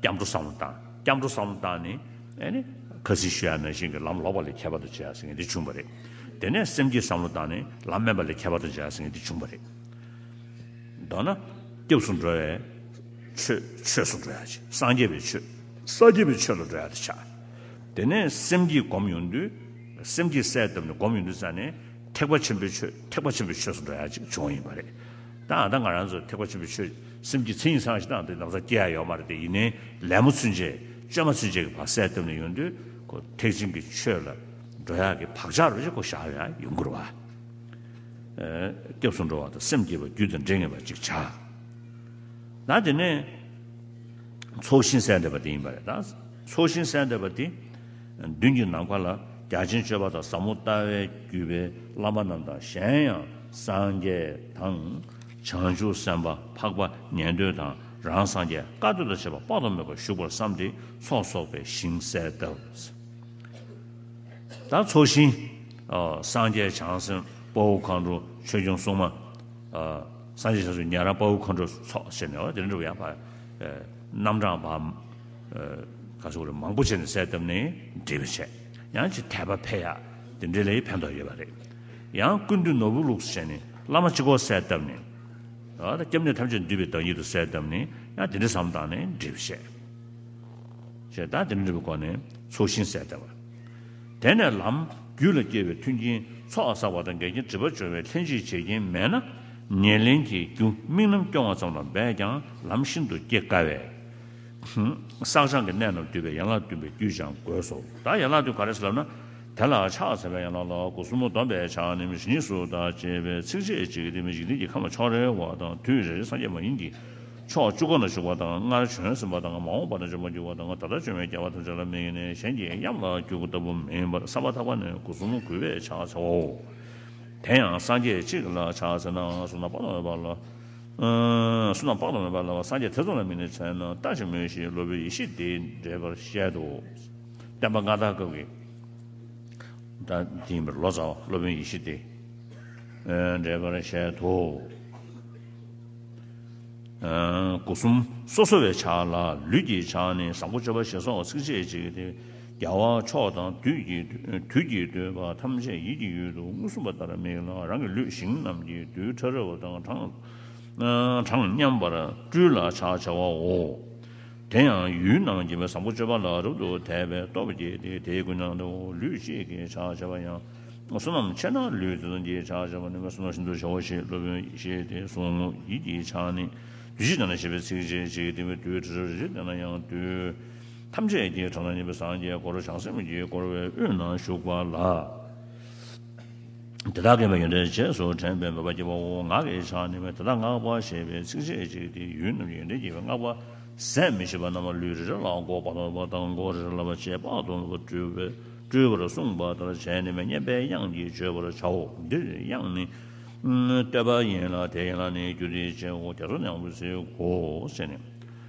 སྐྱབས་འགྲོ་བསམ་བློ་བཏང། སྐྱབས་འགྲོ་བསམ་བློ་བཏང་ནས། ཨེ་ནི། ཁ་སིལ་ཞུ་ཡ་ན་ཤིང་གི་ལམ་ལོག་པ་ལས་ཁྱད་པར་དུ་བྱས་ཟེར་མཁན་དེ་བྱུང་བ་རེད། དེ་ནས་སེམས་ཀྱིས་བསམ་བློ་བཏང་ནས་ལམ་དམན་པ་ལས་ཁྱད་པར་དུ་བྱས་ཟེར་མཁན་དེ་བྱུང་བ་རེད། མདོར་ན། སྐྱབས་སུ་འགྲོ་བའི། ཆོས། ཆོས་སུ་འགྲོ་ཡ་བྱེད། སངས་རྒྱས་པའི་ཆོས། སངས་རྒྱས་པའི་ཆོས་ལ་འགྲོ་ཡ་དེ་ཆགས། དེ་ནས་སེམས་ཀྱིས་སྒོམ་ཡོང་དུས། སེམས་ཀྱིས་གསལ་བཏབ་ནས་སྒོམ་ཡོང་དུས་ཙང་ནས། ཐེག་པ་ཆེན་པོའི་ཆོས་ཐེག་པ་ཆེན་པོའི་ཆོས་སུ་འགྲོ་ཡ་ཅིག་བྱུང་བ་ཡིན་པ་རེད། ད་ད་ང་རང་ཚོ་ཐེག་པ་ཆེན་པོའི་ཆོས་སེམས་ཀྱི་མཚན་ཉིད་ཚང་ཞིག་བཏང་སྟེ་ནང་ཚ་སྐྱེལ་ཡ་ཡོད་མ་རེད་དེ་ཡིན་ནའི་ལད་མོ་ཚུན་ཆད་བཅོས་མ་ཚུན་ཆད་ཀྱི་བག་ཟས་བཏབ་ནས་ཡོང་དུས་ཁོ་ཐེག་ཆེན་གྱི་ཆོས་ལ་འགྲོ་ཡག་གི་བག་ཆགས་རོ་གཅིག་ཁོ་བཞག་ཡ་ཡོང་གི་རོ་བ། སྐྱབས་སུ་འགྲོ་བ་དང་སེམས་བསྐྱེད་པ་རྒྱུད་དང་འབྲེལ་ངེས་པ་ཅིག་བྱ། ད་དེ་ནས་ཚོགས་ཞིང་གསལ་འདེབས་པ་དེ་ཡིན་པ་རེད་ད། ཚོགས་ཞིང་གསལ་འདེབས་པ་དེ། མདུན་གྱི་ནམ་མཁའ་ལ་བརྒྱ་བྱིན་མཆོད་པ་དང་ཟབ་མོ་ལྟ་བས་བརྒྱུད་པའི་བླ་མ་རྣམས་དང་གཞན་ཡང་སངས་རྒྱས་དང། བྱང་ཆུབ་སེམས་དཔའ་འཕགས་པ་ཉན་ཐོས་དང་རང་སངས་རྒྱས་བཀའ་སྡོད་དང་བྱེད་པ་དཔག་ཏུ་མེད་པ་བཞུགས་པར་བསམས་ཏེ་ཚོགས་གསོག་པའི་ཞིང་གསལ་གདབ། དང་ཚོགས་ཞིང། སངས་རྒྱས་བྱང་སེམས་དཔའ་བོ་མཁའ་འགྲོ་ཆོས་སྐྱོང་སྲུང་མ། སངས་རྒྱས་བྱང་ཆུབ་ཉན་རང་དཔའ་བོ་མཁའ་འགྲོ་ཚོགས་བཅས་ནས། རྣམ་གྲངས་པ། ག་ཟུག་རེ་མང་པོ་བྱས་ནས་གསལ་བཏབ་ནས་འབྲི་བའི་ཆེད་ཡང་ཅིག་དད་པ་འཕེལ་ཡག་དེ་འདྲའི་ལས་ཕན་ཐོགས་ཡོད་པ་རེད། ཡང་ཀུན་འདུས་ནོར་བུ་ལུགས་སུ་བྱས་ནས་བླ་མ་སྤྱི་སྐོར་གསལ་བཏབ་ནས། སྐྱབས་གནས་ཐམས་ཅད་འདུས་པའི་བདག་ཉིད་དུ་གསལ་བཏབ་ནས་ཡང་དེ་འདྲའི་ཟམ་བཏང་ནས་འབྲི་བའི་ཆེད། ཞེས་དང་དེ་འདྲ་འབྲི་བའི་སྒོ་ནས་ཚུལ་ཤིང་གསལ་བཏབ། དེ་ནས་ལམ་རྒྱུད་ལ་སྐྱེས་པའི་མཐུན་རྐྱེན་ཚོགས་བསགས་པ་དང་འགལ་རྐྱེན་བྲི་བར་སྦྱོར་བའི་ལྷན་ཅིག་བྱེད་རྐྱེན་མེད་ན། ཉེར་ལེན་གྱི་རྒྱུ་དམིགས་རྣམ་སྐྱོང་བ་ཙམ་ལ་འབད་ཀྱང་ལམ་ཤིན་ཏུ་སྐྱེ་དཀའ་བས། བསགས་སྦྱང་གི་གནས་རྣམས་བསྡུས་པའི་ཡན་ལག་བདུན་པའི་རྒྱུད་སྦྱང་དགོས་སོ། ད་ཡན་ལག་བདུན་ག་རེ་ཞིག་ལབ་ན། དེ་ལ་ཕྱག་འཚལ་བའི་ཡན་ལག་ལ་སྒོ་གསུམ་མོ་སྡོམ་པའི་ཕྱག་ནི་མི་ཤིགས་གཉིས་སུ་དག་ཅེས་པའི་ཚིགས་བཅད་གཅིག་གིས་དེ་མི་ཤིགས་ལྡན་གྱི་ཁམས་ལ་ཕྱོགས་རེ་བ་དང་དུས་རེ་རེ་སངས་རྒྱས་མ་ཡིན་གྱི་ཕྱོགས་བཅུ་ཀུན་ལ་བཞུགས་པ་དང་སྔར་བྱོན་ཟིན་པ་དང་མ་འོངས་པ་ན་འབྱོན་པར་འགྱུར་བ་དང་ད་ལྟར་བྱོན་བའི་རྒྱལ་བ་ཐམས་ཅད་ལ་དམིགས་ནས་གཞན་གྱི་གཡམ་ལ་རྒྱུ་དགུ་ལྟ་བུ་མིན་པར་ས་པ་ཐག་པ་ནས་སྒོ་གསུམ་མོ་གུས་པས་ཕྱག་འཚལ་བའོ། དེ་ཡང་སངས་རྒྱས་གཅིག་ལ་ཕྱག་འཚལ་ན་སོ་ན་དཔག་ཏུ་མེད་པ་ལ། སུ་དང་དཔག་ཏུ་མེད་པ་ལ་བ་སངས་རྒྱས་ཐེ་ཚོམ་ལ་མི་གནས་ཚད་མས་ལྟ་ཅི་སྨོས་ཞེས་སློབ་བུའི་ཡེ་ཤེས་དེས་འགྲེལ་པར་བཤད་དོ། བསྟན་པ་མངའ་བདག་སྐབས་ཀྱི། དེ་ཡིན་པར་ལོ་ཙཱ་བ་སློབ་བུའི་ཡེ་ཤེས་དེས་འགྲེལ་པར་བཤད་དོ། སྐུ་གསུམ་སོ་སོ་བའི་ཕྱག་ལ་ལུས་ཀྱི་ཕྱག་ནི་བཟང་པོ་སྤྱོད་པ་ཞེས་སོགས་ཚིགས་བཅད་གཅིག་སྟེ། རྒྱལ་བ་མཆོག་དང་དུས་ཀྱི་བསྟོད་པ་ཐམས་ཅད་ཡིད་ཀྱི་ཡུལ་དུ་མངོན་སུམ་པ་ལྟར་དམིགས་ལ་རང་གི་ལུས་ཞིང་རྣམས་ཀྱི་རྡུལ་ཕྲ་རབ་དང་གྲངས་མཉམ་པར་སྤྲུལ་ལ་ཕྱག་བྱ་བའོ། དེ་ཡང་ཡུལ་སྣང་བྱེད་པའི་བཟང་པོ་སྤྱོད་པ་ལ་རབ་ཏུ་དད་པའི་སྟོབས་བསྐྱེད་དེ་དེའི་ཀུན་སྣང་དུ་ལུས་གཅིག་གིས་ཕྱག་བྱ་བ་ཡང། བསོད་ནམས་ཆེ་ན་ལུས་བརྩེ་གདུང་གིས་ཕྱག་བྱ་བ་ནི་བསོད་ནམས་ཤིན་ཏུ་ཆེའོ་ཞེས་སློབ་དཔོན་གྱིས་བཤད་དེ་གསུང་ངོ། ཡིད་ཀྱི་ཕྱག་ནི། དུས་ཕྱིས་ཀྱང་ན་ཞེས་པའི་ཚིགས་བཅད་གཅིག་གིས་བསྟན་པའི་རྡུལ་ཕྲ་རབ་རེ་རེ་བསྟན་ན་ཡང་རྡུལ། ཐམས་ཅད་ཀྱི་གྲོང་ན་གཉིས་པའི་སངས་རྒྱས་འཁོར་བྱང་སེམས་ཀྱི་བསྐོར་བའི་དབུས་ན་བཞུགས་པ་ལ། དེ་དག་གི་བུ་ཡོན་ཏན་རྗེས་སུ་དྲན་པའི་མོས་པ་སྐྱེ་བའོ། ངག་གི་ཕྱག་ནི་བས་དེ་དག་བསྔགས་པ་ཞེས་པའི་ཚིག་རྗེས་གཅིག་སྟེ་ཡུལ་རྣམས་ཀྱི་ཡོན་ཏན་སྐྱེ་བའི་བསྔགས་པ། ཟད་མི་ཤེས་པ་རྣམས་ལུས་རེ་རེ་ལ་འགོག་པ་དང་བ་དང་འགོག་རེ་རེ་ལ་བ་ཅས་དཔག་ཏུ་མེད་པ་སྤྲུལ་པར་གསུངས་པ་ལྟར་བྱས་ནས་མི་སྙན་པའི་དབྱངས་ཀྱིས་བརྗོད་པར་བྱའོ། འདིར་དབྱངས་ནི། བསྟོད་པ་ཡིན་ལ་དེའི་ཡན་ལག་ནི་རྒྱུ་དེའི་རྗེའོ་རྒྱ་མཚོ་ནི་ཡང་བའི་ཚིག་གོ། ཞེས་ནི།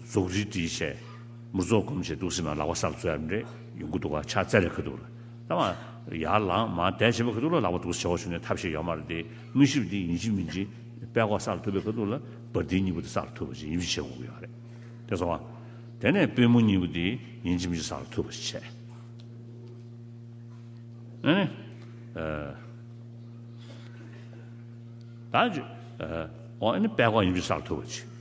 རྫོགས་རིས་བྲིས་བྱས། མུར་རྫོགས་སྒོམ་བྱས་འདུག་སྲིད་མ་ལག་པ་སར་འཛུལ་ཡང་རེད་ཡོང་གི་འདུག་ག་ཕྱག་བཙལ་ལས་ཁ་འདུག་ལ། ད་མ་ཡར་ལངས་མ་བསྡད་བྱས་པ་ཁ་འདུག་ལ་ལག་པ་འདུག་བྱས་བ་བྱུང་ནས་ཐབས་ཤེས་ཡོད་མ་རེད་དེ་དངོས་ཞིབ་འདི་ཡིན་གཅིག་མིན་གཅིག་དཔལ་ལྐོག་སར་ཐུབ་པའི་ཁ་འདུག་ལ་བར་འདི་གཉིས་པོ་དེ་སར་ཐུབ་པ་བྱས་ཡིན་གཅིག་བྱས་དགོས་ཀྱི་ཡོད་རེད་དེ་སོང་བ། དེ་ནས་དཔལ་མོ་གཉིས་པོ་དེ་ཡིན་གཅིག་མིན་གཅིག་སར་ཐུབ་པ་བྱས། ད། དཔལ་ལྐོག་ཡིན་གཅིག་སར་ཐུབ་པ་བྱས།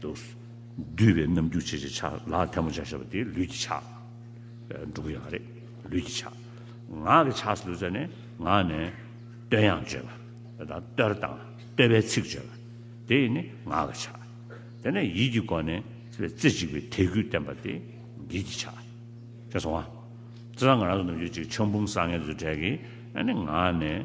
དུ་བསྡུས་པའི་རྣམ་འགྱུར་བྱེད་ཀྱི་ཆ་ལ་ཐལ་མོ་ཆ་ཞེས་པ་དེ་ལུས་ཀྱི་ཆ་འགྲོ་གི་ཡང་རེད། ལུས་ཀྱི་ཆ། ངག་གི་ཆ་སོགས་ཟེར་ནས་ངག་ནས་བསྟོད་དབྱངས་བརྗོད་པ་དང་བསྟོད་དང་བསྟོད་པའི་ཚིག་བརྗོད་པ་དེ་ནི་ངག་གི་ཆ། དེ་ནས་ཡིད་ཀྱི་སྒོ་ནས་རྩེ་གཅིག་པའི་དད་གུས་བསྟན་པ་དེ་ཡིད་ཀྱི་ཆ། ཅེས་སོང་ང། རྩེ་དང་ངག་རང་སོ་ནམ་རྒྱུན་གཅིག་ཆོས་འབུམ་བཟང་ངན་རྫུ་འཕྲད་ཀྱིས་ངག་ནས་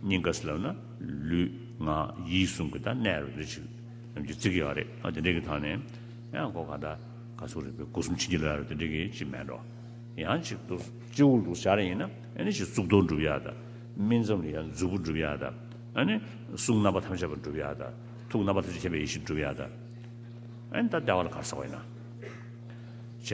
སྙིང་ག་སེ་ལབ་ན་ལུས་ངག་ཡིད་གསུམ་གྱི་དང་གནས་རེ་རེ་ཞིག་ནམ་གྱི་ཚིག་གི་ཡང་རེད་དེ་འདྲེ་གི་ཐང་ནས་ཡང་སྒོ་ག་ད་ག་སུ་རེད་པའི་སྒོ་གསུམ་ཕྱིན་ཅི་ལ་རེད་དེ་འདྲེ་གི་ཅི་མེད་འགྲོ་ཡང་གཅིག་ཏུ་སྤྱི་བོ་ལུགས་བྱ་རེ་ཡིན་ན་ཨེ་ནི་ཞིག་གཙུག་ཏོར་འགྲུབ་ཡག་ད་སྨིན་མཚམས་ལ་ཡང་མཛུབ་བུ་འགྲུབ་ཡག་ད་ཨེ་ནི་གསུང་རྣམ་པ་ཐམས་ཅད་པ་འགྲུབ་ཡག་ད་ཐུགས་རྣམ་པ་ཐམས་ཅད་མཁྱེན་པའི་ཡེ་ཤེས་འགྲུབ་ཡག་ད་ཨེ་ནི་ད་ལྟེ་བ་ལ་གར་ཟག་བ་ཡིན་ན་བྱས་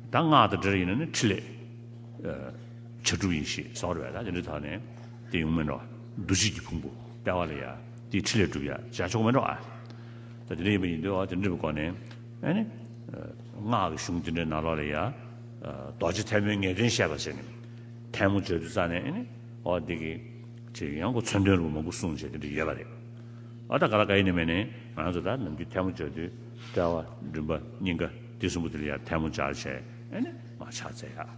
ད་སྔགས་ད་འདྲེ་རེ་ཡིན་ན་ནི་ཕྲིན་ལས། བྱ་དྲུག་ཡིན་ཞེས་གསང་བར་བས་ན་དེ་འདི་དག་ནི་དེ་ཡུངས་མིན་ནོ། འདུ་བྱེད་ཀྱི་ཕུང་པོ་དཔལ་བ་ལ་ཡང་དེའི་ཁྲི་ལས་གྲུབ་ཡང་བྱ་མཆོག་མིན་ནོ། དེ་འདི་ཡིན་པ་ཡིན་ཏེ་དེ་འདྲི་བའི་སྒོ་ནས། སྔགས་ཀྱི་གཞུང་དེ་འདྲའི་ནང་ལོགས་ལ་ཡང། རྡོ་རྗེ་ཐལ་མོའི་ངེས་དོན་བཤད་པར་བྱས་ནས། ཐལ་མོ་བརྗོད་དུ་བཙལ་ནས། འོ་དེ་ཀའི། ཅེས་ཡང་སྒོ་མཚོན་དོན་རུ་མང་པོ་གསུངས་བྱས་དེ་འདྲི་ཡོད་པ་རེད། འོ་ད་ག་ལ་ག་ཡིན་ནི་སྨྲས་ནས། ང་ཚོ་ད་ནམ་གྱི་ཐལ་མོ་བརྗོད་དུས་དཔལ་བ། འབྲིང་པ། སྙིང་ག། དེ་གསུམ་པོ་དེ་ལ་ཡང་ཐལ་མོ་སྦྱར་བྱས། མ་ཆགས་བཙལ་ཡ།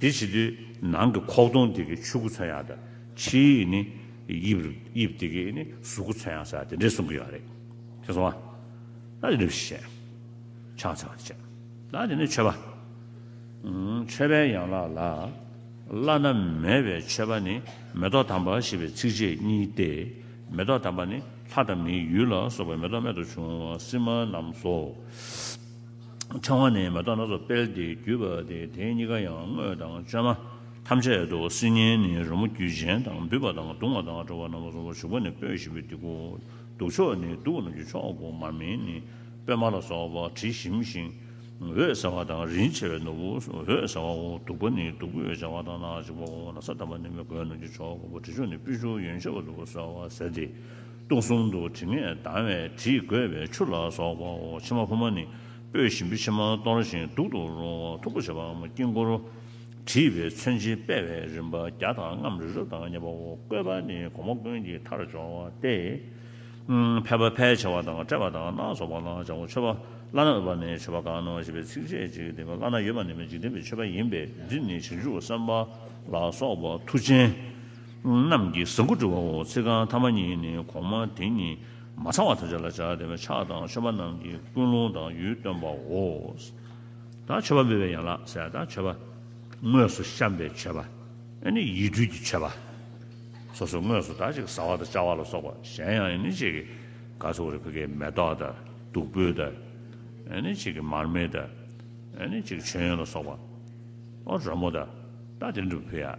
དེ་བྱེད་དུས་ནང་གི་ཁོག་སྟོང་དེ་གའི་ཆུ་ཁུ་ཚོན་ཡག་དང་ཕྱིའི་ནི་དབྱིབས་དེ་གའི་ནི་གཟུགས་ཁུ་ཚོན་ཡག་ས་དེ་འདྲས་གསུང་གི་ཡོད་རེད་ཁྱེད་སོང་ཨ། ད་དེ་འདྲས་བྱས། ཆང་ཚ་བ་ཆད། ད་དེ་ནི་ཆོས་པ། ཆོས་པའི་ཡན་ལག་ལ། བླ་ན་མེད་པའི་མཆོད་པ་ནི་མེ་ཏོག་དམ་པ་ཞེས་པའི་ཚིགས་བཅད་གཉིས་ཏེ། མེ་ཏོག་དམ་པ་ནི་ལྷ་དང་མིའི་ཡུལ་ལ་སོགས་པའི་མེ་ཏོག་རྨད་དུ་བྱུང་བ་སིལ་མ་རྣམས་སོ། ཕྲེང་བ་ནི་མེ་ཏོག་སྣ་ཚོགས་སྤེལ་ཏེ་བརྒྱུས་པ་སྟེ་དེ་གཉིས་ཀ་ཡང་དངོས་དང་བཅོས་མ་ཐམས་ཅད་དོ། སིལ་སྙན་ནི་རོལ་མོ་རྒྱུད་གཞན་དང་འབུད་པ་དང་བརྡུང་བ་དང་བྲོ་བ་རྣམས་གསུམ་པོ་ཞུགས་པ་ནི་སྤོས་བཞི་པོའི་ཏིག་གོ། གདུགས་ཆོག་ནི་གདུགས་རྣམས་ཀྱི་ཆོག་གོ་མར་མེ་ནི་སྤོས་མར་ལ་སོགས་པ་དྲི་ཞིམ་ཞིང་འོད་ཟེར་བ་དང་རིན་ཆེ་བའི་ནོར་བུ་འོད་ཟེར་བའོ། བདུག་པ་ནི་བདུག་སྤོས་སྦྱར་བ་དང་ནག་ཅིག་པའོ། ན་བཟའ་དམ་པ་ནི་མི་རྒོད་རྣམས་ཀྱི་ཆོག་གོ་བ་དྲི་ཆུ་ནི་སྤོས་ཆུ་ཡོན་ཆེ་བ་ལུ་གུ་སོལ་བ་ཟེར་ཏེ། སྟོང་གསུམ་དུ་དྲི་མེད་དྭངས་བའི་དྲིས་བསྒོས་པའི་ཆུ་ལ་སོགས་པའོ། ཕྱེ་མ་ཕུབ་མ་ནི་སྤོས་ཞིམ་པོའི་ཕྱེ་མ་གཏོར་ཞིང་གདུག་ཏུ་རུང་བ་མཐུག་པོ་བྱེད་པའམ་དཀྱིལ་འཁོར་བྲིས་པའི་མཚོན་བྱེད་དཔལ་བའི་རིམ་པ་བརྒྱ་དང་ལྔའམ་རི་རབ་དང་བརྙས་པའོ། བཀོད་པ་ནི་གོང་མ་ཀུན་གྱི་མཐར་སྦྱོར་བ་སྟེ། ཕལ་པ་ཕལ་ཆེ་བ་དང་བཀྲེས་པ་དང་སྣ་ཚོགས་པ་རྣམས་བྱང་བུ་མཆོད་པ་བླ་ན་འོས་པ་ནི་མཆོད་པ་གང་ནོ་ཞེས་པའི་ཚིགས་བཅད་གཅིག་གིས་བསྟན་པའི་བླ་ན་ཡོད་པ་ནི་མི་འཇིགས་ལྡན་པའི་མཆོད་པ་ཡིན་པས་འདིར་ནི་བྱང་ཆུབ་སེམས་དཔའ་ལ་སོགས་པ་མཐུ་ཆེན། རྣམས་ཀྱི་ཟངས་ཁུ་བྲི་བའོ། ཚིག་རྐང་ཐ་མ་གཉིས་ནི་གོང་མ་དེ་ཉིད་མ་ཚང་བ་དང་བཅས་ལ་སྦྱར་ཏེ་ཕྱག་དང་མཆོད་པ་རྣམས་ཀྱི་ཀུན་སློང་དང་ཡུལ་སྟོན་པའོ། དང་མཆོད་པ་འབུལ་བའི་ཡན་ལག་ཟས་དང་མཆོད་པ། དངོས་སུ་བཤམས་པའི་མཆོད་པ། ནི་ཡིད་སྤྲུལ་གྱི་མཆོད་པ། སོ་སོའི་དངོས་སུ་དག་ཅིག་བཟའ་བ་དང་བཅའ་བ་ལ་སོགས་པ་གཞན་ཡང་ནི་གཅིག་གིས་ག་ཚོད་བོར་བའི་བུ་གའི་མེ་ཏོག་དང་བདུག་སྤོས་དང། ནི་གཅིག་གིས་མར་མེ་དང། ནི་གཅིག་གིས་མཆོད་ཡོན་ལ་སོགས་པ། རོལ་མོ་དང། དང་དེ་འགྲུབ་བུ་ཡ།